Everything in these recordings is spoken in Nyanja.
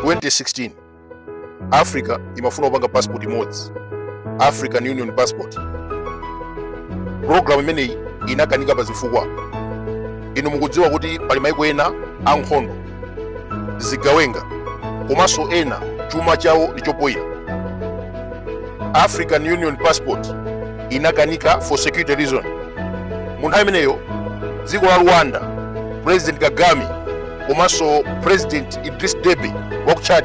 2016 africa imafuna kupanga passport imodzi african union passport program imeneyi inakanika pa zifukwa inu mukudziwa kuti pali maiko ena ankhondo zigawenga komanso ena chuma chawo ndi chopoyira african union passport inakanika for security reason mu nthawi imeneyo dziko la rwanda president kagame komanso president idris deby wa ku chad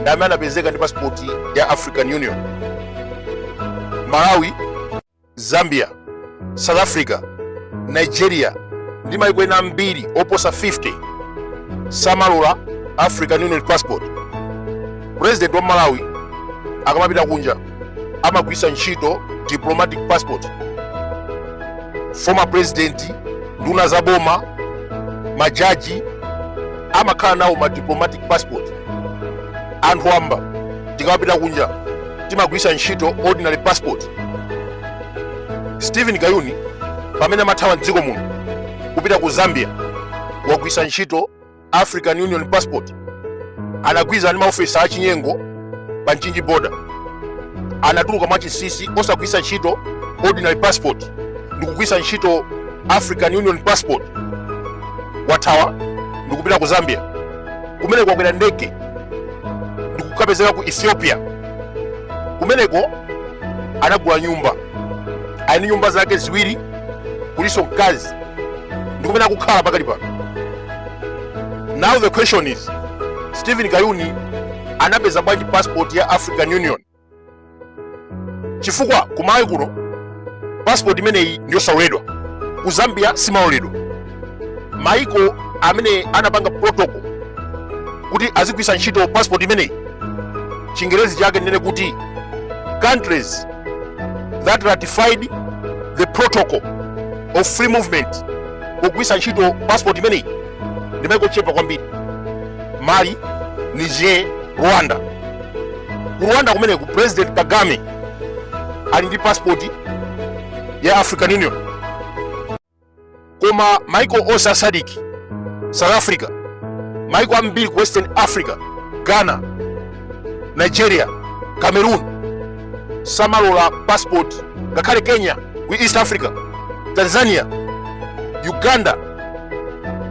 ndi amene anapezeka ndi pasipoti ya african union malawi zambia south africa nigeria ndi maiko ena ambiri oposa 50 samalola african union passport president wa malawi akamapita kunja amagwiritsa ntchito diplomatic passport former president nduna za boma majaji amakhala nawo madiplomatic passport anthu wamba tikapita kunja timagwiritsa ntchito ordinary passport stephen kayuni pamene amathawa mdziko muno kupita ku zambia wagwiritsa ntchito african union passport anagwirizana ndi maofisa achinyengo pa mchinji border anatuluka mwachinsinsi osagwiritsa ntchito ordinary passport ndikugwiritsa ntchito african union passport wathawa ndikupita ku zambia kumeneko wakwera ndege ndikukapezeka ku ethiopia kumeneko anagula nyumba ali ndi nyumba zake ziwiri kulinso mkazi ndi kumene akukhala pakali pano now the question is stephen kayuni anapeza bwanji passport ya african union chifukwa ku malawi kuno passport imeneyi ndiyosaloledwa ku zambia siimaloledwa maiko amene anapanga protocol kuti azigwiritsa ntchito passport imeneyi chingerezi chake ndinene kuti countries that ratified the protocol of free movement pogwiritsa ntchito passport imeneyi ndi maiko ochepa kwambiri mali niger rwanda ku rwanda kumeneko president kagame ali ndi passport ya african union koma maiko onse a sadc south africa maiko ambiri ku western africa ghana nigeria cameroon samalola passport ngakhale kenya ku east africa tanzania uganda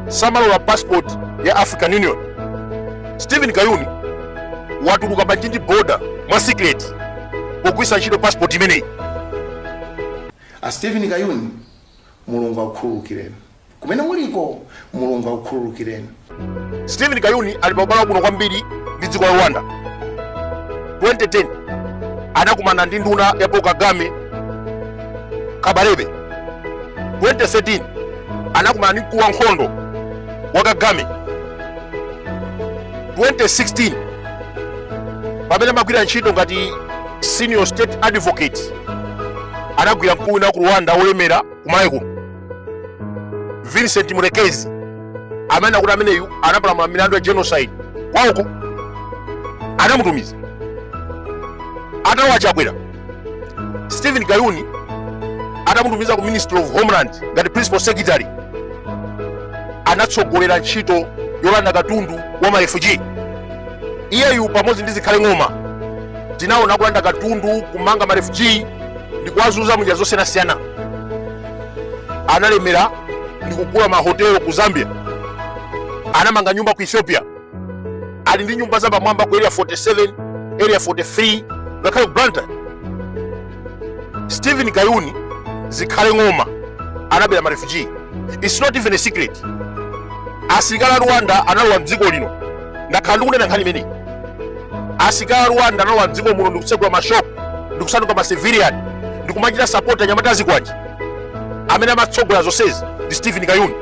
samalola passport ya african union stephen kayuni watuluka pa mchinji border mwa secret pogwisa ntchito passport imeneyi a stephen kayuni mulungu akukhululukireni kumene muliko mulungu akukhululukireni stephen kayuni ali pa ubale wabwino kwambiri ndi dziko la rwanda 2010 anakumana ndi nduna ya paul kagame kabarebe 2013 anakumana ndi mkulu wa ankhondo wa kagame 2016 pamene amagwira ntchito ngati senior state advocate anagwira mkulu wina wa ku rwanda wolemera kumalawi kuno vincent mulekezi amene akuti ameneyu anapalamula milandu ya genocide kwauko anamutumiza atatha achakwera stephen kayuni atamutumiza ku ministry of homeland ngati principal secretary anatsogolera ntchito yolanda katundu wa marefuji iyeyu pamodzi ndi zikhale ng'oma tinaona kulanda katundu kumanga marefuji ndi kuwazunza munjira zosiyanasiyana analemera ndi kugula mahotelo ku zambia anamanga nyumba ku ethiopia ali ndi nyumba za pamwamba ku area 47 area 43 ngakhale ku blantyre stephen kayuni zikhale ng'oma anabera marefuji its not even a secret asilikali a rwanda analowa mdziko lino ndakhala ndikunena nkhani imeneyi asilikali a rwanda analowa mdziko muno ndikutsegula mashopu ndikusanduka macivilian ndikumachita support anyamata azikwanje amene amatsogolera zonsezi ndi stephen kayuni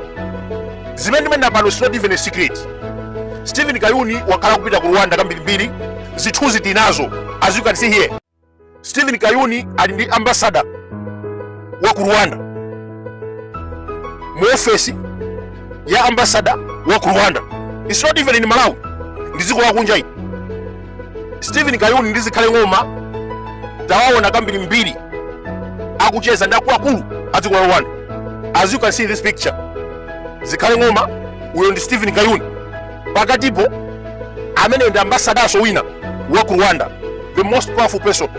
zimene ndimanena pano is not even a secret stephen kayuni wakhala kupita ku rwanda kambirimbiri zithunzi tinazo as you can see here Stephen Kayuni ali ndi ambassador wa ku Rwanda mu office ya ambassador wa ku Rwanda. It's not even in Malawi. Ndi dziko la kunja ili. Stephen Kayuni ndi zikhale ng'oma tawaona kambirimbiri akucheza ndi akuluakulu a dziko la Rwanda. As you can see in this picture. Zikhale ng'oma uyo ndi Stephen Kayuni. pakatipo ameneyo ndi ambasadanso wina wa ku rwanda the most powerful person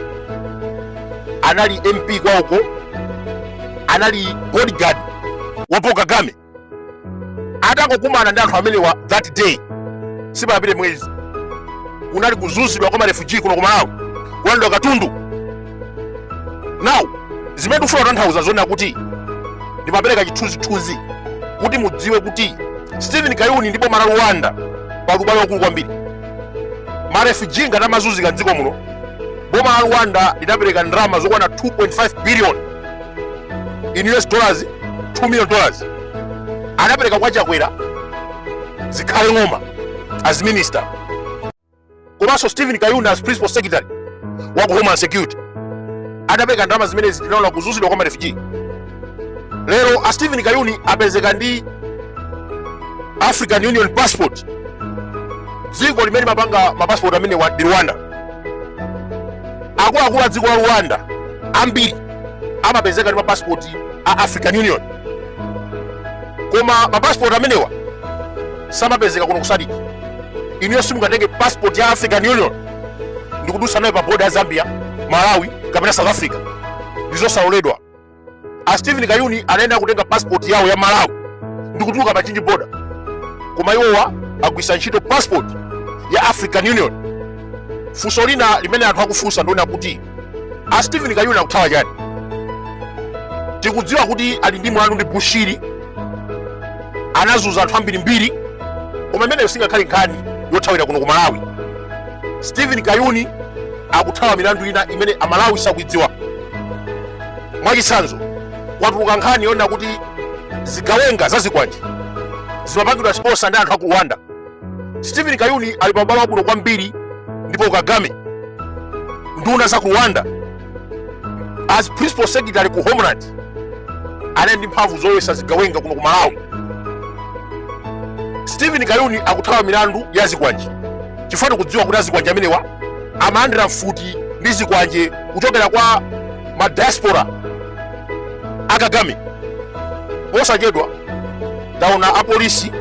anali mp kwauko anali bodyguard wa paul kagame atangokumana ndi anthu amenewa that day sipanapite mwezi kunali kuzunzidwa kwa marefuji kuno kumalawi kulandidwa katundu now zimene ndikufuna kutanthauza zonena kuti ndimapereka chithunzithunzi kuti mudziwe kuti stephen kayuni ndi boma la rwanda pali ubale waukulu kwambiri marefuji ngati amazunzika mdziko muno boma la rwanda linapereka ndalama zokwana 2.5 billion in us dollars 2 million dollars anapereka kwa achakwera zikhale ng'oma as minister komanso Stephen Kayuni as principal secretary wa ku Homeland Security adapereka ndalama zimene tinaona kuzuzidwa kwa marefugee. Lero a Stephen Kayuni apezeka ndi African Union passport, dziko limene limapanga mapasipoti amenewa ndi Rwanda. Akuluakulu a dziko la Rwanda ambiri amapezeka ndi mapasipoti a African Union. koma mapasipoti amenewa samapezeka kuno ku SADC inuyo simungatenge passport ya african union ndikudusa nayo pa boda ya zambia malawi kapena south africa ndizosaloledwa a stephen kayuni anayenera kutenga passport yawo ya malawi ndikutuluka pa Mchinji boda koma iwowa agwisa ntchito passport ya african union funso lina limene anthu akufunsa ndi lonena kuti a stephen kayuni akuthawa chani tikudziwa kuti ali ndi mlandu ndi bushiri anazuza anthu ambirimbiri koma imeneyo singakhale nkhani yothawira kuno ku malawi stephen kayuni akuthawa milandu ina imene amalawi sakuidziwa mwachitsanzo kwatuluka nkhani yonena kuti zigawenga za zikwanje zimapangidwa sponsor ndi anthu aku rwanda Stephen Kayuni ali pa ubale wabwino kwambiri ndi Paul Kagame nduna za ku Rwanda as principal secretary ku Homeland anali ndi mphamvu zolowesa zigawenga kuno ku Malawi. Stephen Kayuni akuthawa milandu ya zikwanje chifukwa tikudziwa kuti azikwanje amenewa amalandira mfuti ndi zikwanje kuchokera kwa ma diaspora a Kagame. Posachedwa taona apolisi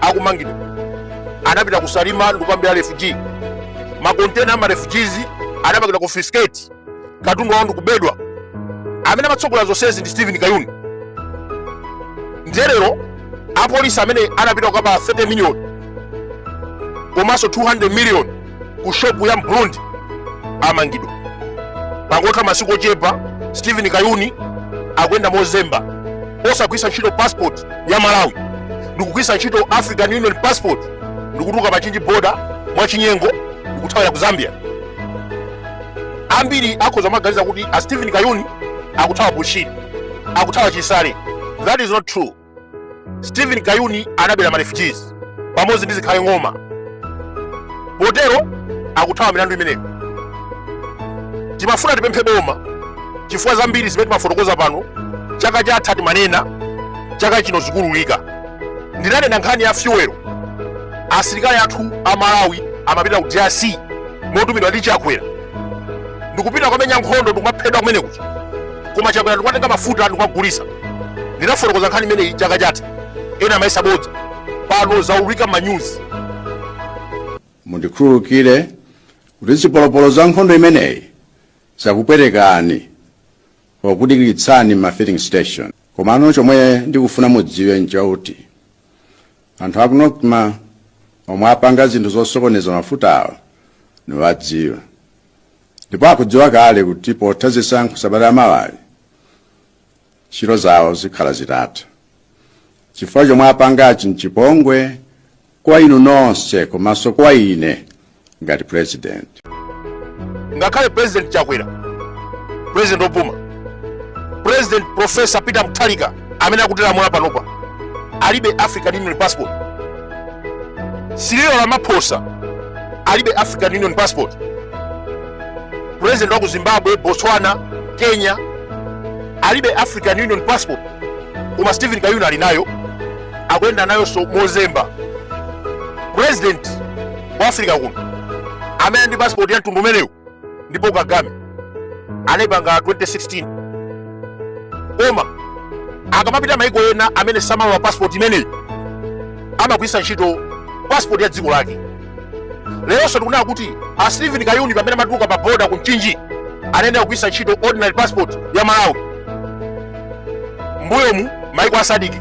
akumangidwa anapita ku salima ndikukamubera refugee makontena ama refugees anapangidwa confiscate katundu wawo ndikubedwa amene amatsogolera zonsezi ndi stephen kayuni ndiye lero apolisi amene anapita kukaba 30 million komanso 200 million ku shopu ya mburundi amangidwa pangotha masiku ochepa stephen kayuni akuyenda mozemba osagwisa ntchito passport ya malawi ndikugwisa ntchito african union passport ndikutuluka pa Mchinji boda mwachinyengo ndikuthawira ku zambia ambiri akhoza kumaganiza kuti a stephen kayuni akuthawa bushiri akuthawa chisale that is not true Stephen Kayuni anabera ma refugees pamodzi ndi Zikhale Ng'oma, potero akuthawa milandu imeneyo. Timafuna tipemphe boma chifukwa zambiri zimene timafotokoza pano chaka chatha timanena, chaka chino zikuululika. Ndinanena nkhani ya fuel, asilikali athu a Malawi amapita ku DRC motumidwa ndi Chakwera. ndikupita kwamenya nkhondo ndikumaphedwa kumene kuja koma akwawo ndikumatenga mafuta ndikumagulisa ndinafotokoza nkhani imeneyi chaka chatha ena amayesa bodza pano zaululika m'manyuzi mundikhululukire kuti zipolopolo za nkhondo imeneyi zakupwetekani pokudikiritsani m'ma filling station komano chomwe ndikufuna mudziwe nchakuti anthu aku NOCMA omwe apanga zinthu zosokoneza mafutawa ndikuwadziwa ndipo akudziwa kale kuti potha zisankho sabata la mawali ntchito zawo zikhala zitatha chifukwa chomwe apangachi nchipongwe kwa inu nonse komanso kwa ine ngati president ngakhale president chakwera president opuma president professor peter mutharika amene akutilamulira panopa alibe african union passport cyril ramaphosa alibe african union passport president wa ku zimbabwe botswana kenya alibe african union passport koma stephen kayuni ali nayo akuyenda nayonso mozemba president wa africa kuno amene ali ndi passport ya mtundu umenewu ndi paul kagame anayipanga 2016 koma akamapita maiko ena amene samalola passport imeneyi amagwiritsa ntchito passport ya dziko lake leronso tikunena kuti a stephen kayuni pamene amatuluka pa boda ku mchinji anayenera kugwiritsa ntchito ordinary passport ya malawi mbuyomu maiko a sadc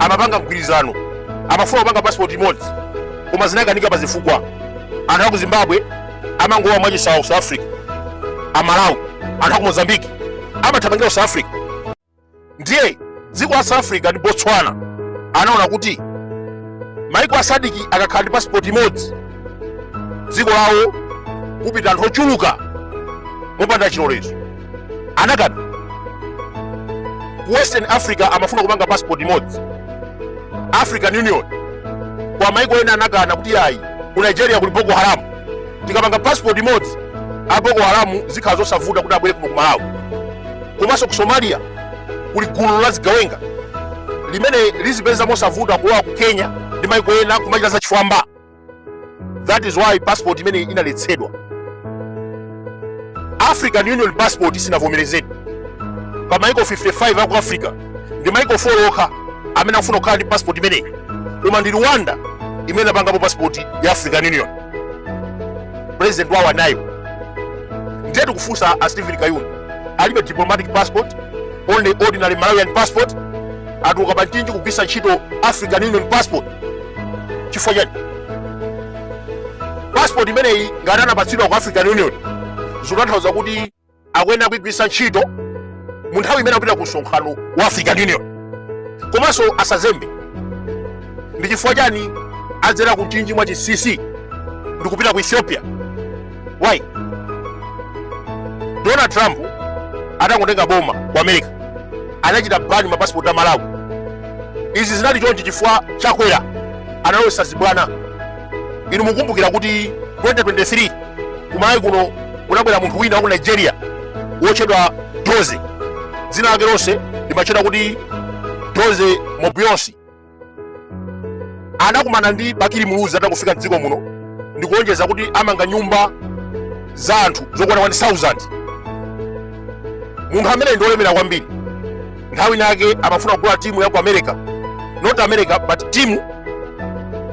amapanga mgwirizano amafuna kupanga passport imodzi koma zinakanika pa zifukwa anthu aku zimbabwe amangolowa mwachisawawa ku south africa amalawi anthu aku mozambique amathamangira ku south africa ndiye dziko la south africa ndi botswana anaona kuti maiko a sadc akakhala ndi pasipoti imodzi dziko lawo kupita anthu ochuluka mopanda chilolezo anakana ku western africa amafuna kupanga pasipoti imodzi african union kwa maiko ena anakana kuti ayi ku nigeria kuli boko haram tikapanga passport imodzi a boko haram zikhala zosavuta kuti abwere kuno ku malawi komanso ku somalia kuli gulu la zigawenga limene lizipeza mosavuta kulowa ku kenya ndi maiko ena kumachita zachifwamba that is why passport imeneyi inaletsedwa african union passport sinavomerezedwe pa maiko 55 aku africa ndi maiko 4 okha amene akufuna kukhala ndi passport imeneyi koma ndi rwanda imene inapangapo passport ya african union ndi president wawo anayo ndiye tikufunsa a stephen kayuni alibe diplomatic passport only ordinary malawian passport atuluka pa mchinji kugwiritsa ntchito african union passport chifukwa chani passport imeneyi ngati anapatsidwa ku african union zikutanthauza kuti akuyenera kuigwiritsa ntchito mu nthawi imene akupita ku msonkhano wa african union komanso akazembe ndi chifukwa chani adzera ku mchinji mwa chinsisi ndi kupita ku ethiopia why donald trump atangotenga boma ku america anachita bani mapasipoti a malawi izi zinali chonchi chifukwa chakwera analowetsa zibwana inu mukumbukira kuti 2023 kumayi kuno kunabwera munthu wina wa ku nigeria wotchedwa doze dzina lake lonse limatchedwa kuti doze mobuosi anakumana ndi bakili muluzi atakufika mdziko muno ndikulonjeza kuti amanga nyumba za anthu zokwana 1000 munthu ameneyi ndi wolemera kwambiri nthawi inayake amafuna kugula timu ya ku america not america but timu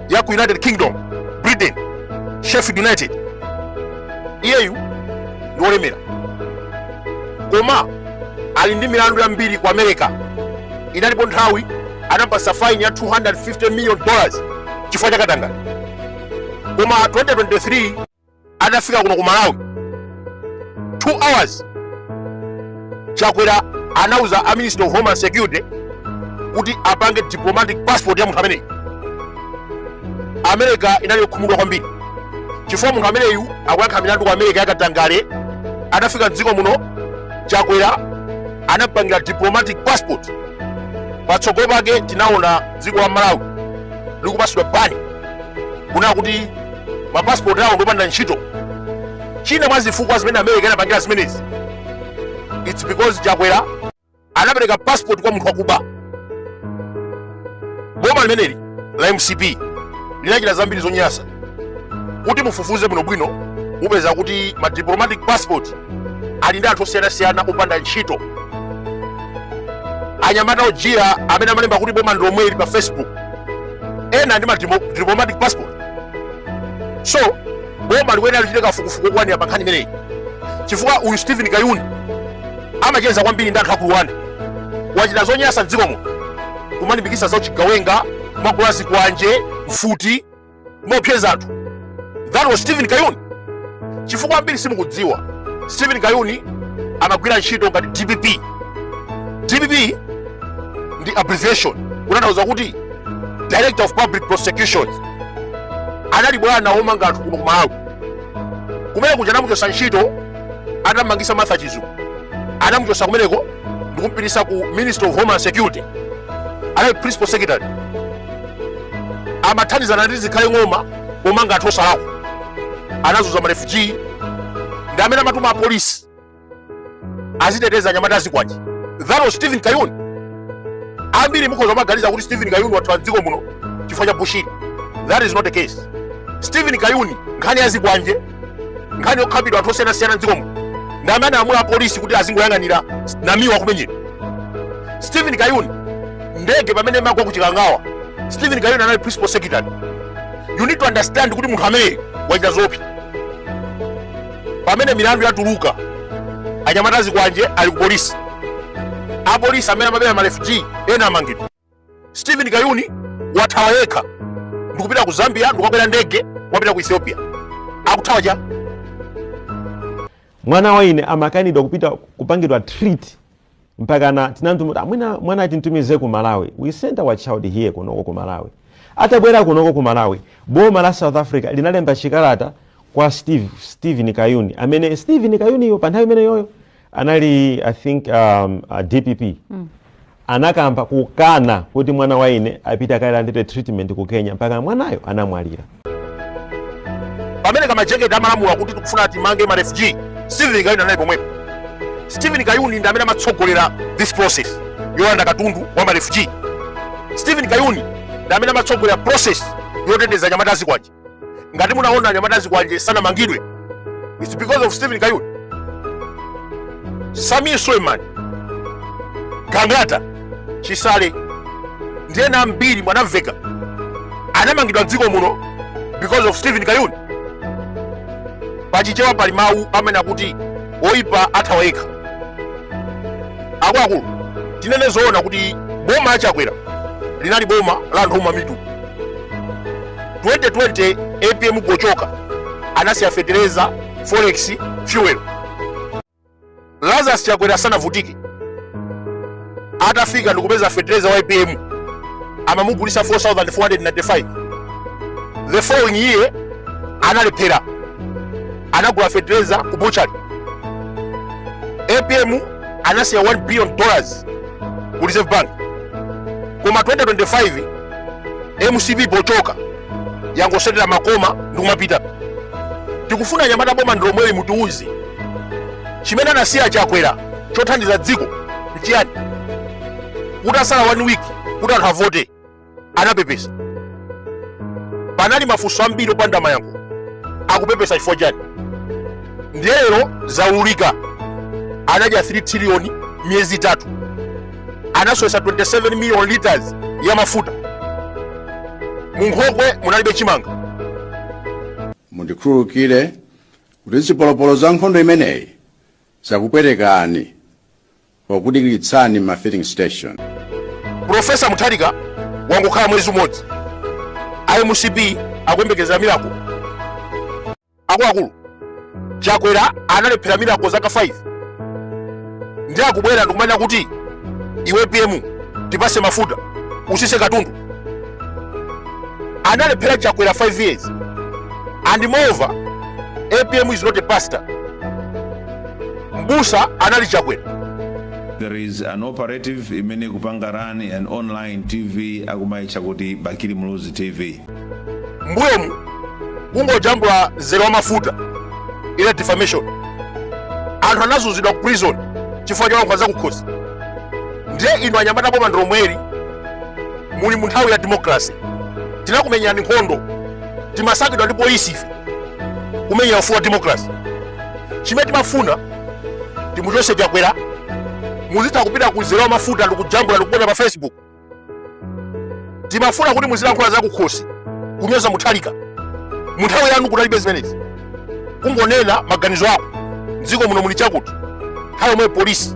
ya ku united kingdom britain sheffield united iyeyu ndi wolemera koma ali ndi milandu yambiri ku america inalipo mpaka nthawi anapatsidwa faini ya 250 million dollars chifukwa cha katangale koma 2023 atafika kuno ku malawi 2 hours chakwera anauza a minister of homeland security kuti apange diplomatic passport ya munthu ameneyi america inali yokhumudwa kwambiri chifukwa munthu ameneyu akuyankha milandu ku america yakatangale atafika mdziko muno chakwera anampangira diplomatic passport patsogolo pake tinaona dziko la malawi likupatsidwa bani kunena kuti mapasipoti awo ndopanda ntchito china mwa zifukwa zimene america inapangira zimenezi its because chakwera anapereka passport kwa munthu wakuba boma limeneli la mcp linachita zambiri zonyansa kuti mufufuze bwinobwino mupeza kuti ma diplomatic passport ali ndi anthu osiyanasiyana opanda ntchito anyamata ojiya amene amalemba kuti boma ndilomweli pa facebook ena ndi ma diplomatic passport so boma likuyenera lichite kafukufuku okwanira pa nkhani imeneyi chifukwa uyu stephen kayuni amacheza kwambiri ndi anthu a ku Area 1 wachita zonyasa mdziko muno kumalimbikitsa za uchigawenga kumagula zikwanje mfuti mopseza anthu that was stephen kayuni chifukwa ambiri simukudziwa stephen kayuni amagwira ntchito ngati dpp dpp ndi abbreviation kutanthauza kuti director of public prosecutions anali bwana womanga anthu kuno kumalawi kumene kuja anamuchotsa ntchito atamangitsa martha chizuma anamuchotsa kumeneko ndikumpititsa ku ministry of homeland security anali principal secretary amathandizana ndi zikhale ng'oma pomanga anthu osalakwa anazunza marefugee ndi amene amatuma apolisi aziteteza anyamata azikwanje that was stephen kayuni ambiri mukhoza kumaganiza kuti stephen kayuni wathawa mdziko muno chifukwa cha bushiri that is not the case stephen kayuni nkhani yazikwanje nkhani yokhapidwa anthu osiyanasiyana mdziko muno ndi amene analamula apolisi kuti azingoyang'anira namiwa akumenyedwa stephen kayuni ndege pamene imagwa kuchikangawa stephen kayuni anali principal secretary you need to understand kuti munthu ameneyi wachita zoopsa pamene milandu yatuluka anyamata azikwanje ali ku polisi apolisi amene amabera marefugee ena amangidwa stephen kayuni wathawa yekha ndikupita ku zambia ndikukakwera ndege wapita ku ethiopia akuthawa chani mwana wa ine amakanidwa kupita kupangidwa treat mpakana tinati mwina mwana timtumize ku malawi we sent our child here kunoko ku malawi atabwera kunoko ku malawi boma la south africa linalemba chikalata kwa steve stephen kayuni amene stephen kayuniyo pa nthawi imeneyoyo anali i think um, uh, dpp mm. anakamba kukana kuti mwana wa ine apita akalandire treatment ku kenya mpaka mwanayo anamwalira pamene kammayani amalamula kuti tikufuna timange ma refugee steven kayuni anali pomwepo steven kayuni ndi amene amatsogolera this process yolanda katundu wa ma refugee steven kayuni ndi amene amatsogolera process yoteteza anyamata azikwanje ngati munaona anyamata azikwanje sanamangidwe It's because of Stephen Kayuni. Samir Suleiman, Gangata, Chisale, ndi ena ambiri munamva kuti anamangidwa mdziko muno because of Stephen Kayuni. Pachichewa pali mawu amene akuti oyipa athawa yekha. Akuluakulu, tinene zoona kuti boma la Chakwera linali boma la anthu omwa mitu. 2020 apm gochoka anasiya fetereza forex fuel lazarus chakwera asanavutike atafika ndikupeza fetereza wa apm amamugulisa 4495 the following year analephera anagula fetereza ku butchery apm anasiya 1 billion dollars ku reserve bank koma 2025 mcp pochoka yangosesera makoma ndikumapita tikufuna anyamata boma ndilomweli mutiuze chimene anasiya chakwera chothandiza dziko nchiyani kutatsala one week kuti anthu avote anapepesa panali mafunso ambiri opanda mayankho akupepesa chifukwa chani ndiye lero zaululika anadya 3 triliyoni miyezi itatu anasowesa 27 million liters ya mafuta munkhokwe munalibe chimanga mundikhululukire kuti zipolopolo za nkhondo imeneyi zakupwetekani pokudikiritsani ma filling station profesa mutharika wangokhala mwezi umodzi a mcp akuyembekezera mirako akuluakulu chakwera analephera mirako zaka 5 ndiye akubwera ndikumanena kuti APM tipatse mafuta utsitse katundu analephera chakwera 5 years and moreover apm is not a pastor mbusa anali chakwera there is an operative imene ikupanga run an online tv akumaitcha kuti bakili muluzi tv mbuyomu kungojambula mzere wamafuta inali defamation anthu anazunzidwa ku prison chifukwa cholankhula za kukhosi ndiye inu anyamata boma ndilomweli muli mu nthawi ya democracy tinakumenyerani nkhondo timasakidwa ndi polisi ife kumenyera ufulu wa democracy chimene timafuna timuchotse chakwera muzitha kupita ku mzere wamafuta ndikujambula ndikuponya pa facebook timafuna kuti muzilankhula za kukhosi kunyoza muthalika mu nthawi yanu kunalibe zimenezi kungonena maganizo ako mdziko muno muli chakuti nthawi yomwe polisi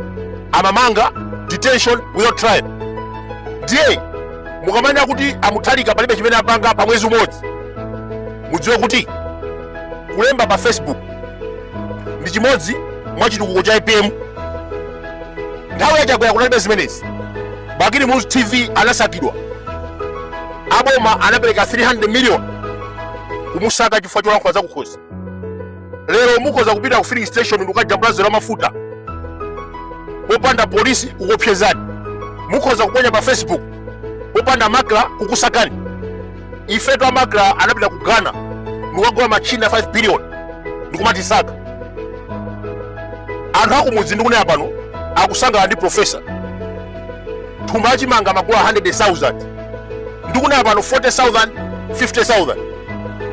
amamanga detention without trial ndiye mukamanena kuti amuthalika palibe chimene apanga pa mwezi umodzi mudziwe kuti kulemba pa facebook ndi chimodzi mwa chitukuko cha apm nthawi ya chakwera kunalibe zimenezi bakili muluzi tv anasakidwa aboma anapereka 300 million kumusaka chifukwa cholankhula zakukhosi lero mukhoza kupita ku filling station ndikukajambula mzere wa mafuta popanda polisi kukuopsezani mukhoza kuponya pa facebook popanda makla kukusakani ife Chakwera anapita ku ghana ndikukagula ma china 5 billion ndikumatisaka anthu akumudzi ndikunena pano akusangalala ndi profesa thumba la chimanga amagula 100,000 ndikunena pano 40,000 50,000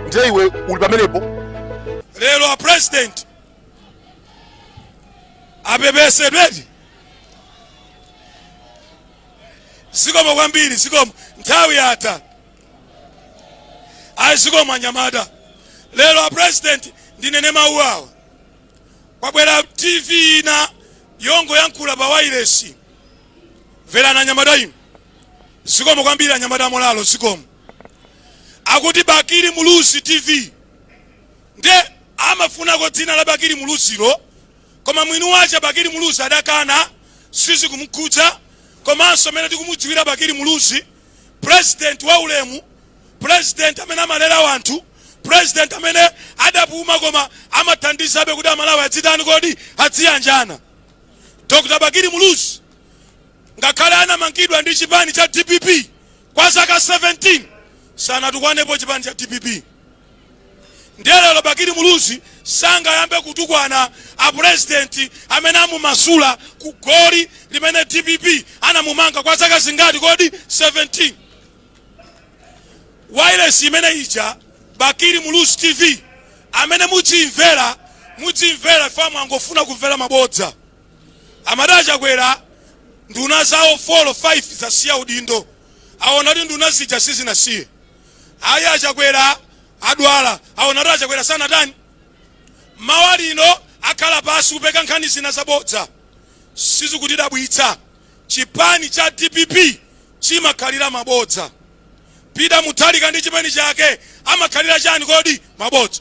ndiye iwe uli pamenepo lero a president apepesedwedi zikomo kwambiri zikomo nthawi yatha ayi zikomo anyamata lero a president ndinene mawu awa kwabwera tv ina yongoyankhula pa wailesi mverani anyamata inu zikomo kwambiri anyamata amolalo zikomo akuti bakili muluzi tv ndiye amafunako dzina la bakili muluzilo Koma mwini wake Bakili Muluzi adakana, sizikumkhudza komanso mmene tikumudziwira Bakili Muluzi, president wa ulemu, president amene amalera wanthu, president amene adapuma koma amathandizabe kuti Amalawi adzitani kodi? Adziyanjana. Dr. Bakili Muluzi ngakhale anamangidwa ndi chipani cha dpp, Kwa zaka 17 sanatukwanepo chipani cha dpp ndiye lero Bakili Muluzi sangayambe kutukwana a president amene amumasula ku goli limene dpp anamumanga kwa zaka zingati kodi 17 wailesi imene ija Bakili Muluzi TV amene mudzimvera mudzimvera amene angofuna kumvera mabodza Amati a Chakwera nduna zawo 4 or 5 zasiya udindo. Aona kuti nduna zija sizinasiye. Ayi a Chakwera adwala. Aona kuti a Chakwera sanatani. Mawa lino akhala pansi kupeka nkhani zina zabodza. Sizikutidabwitsa. Chipani cha dpp chimakhalira mabodza. Peter Mutharika ndi chipani chake amakhalira chani kodi? Mabodza.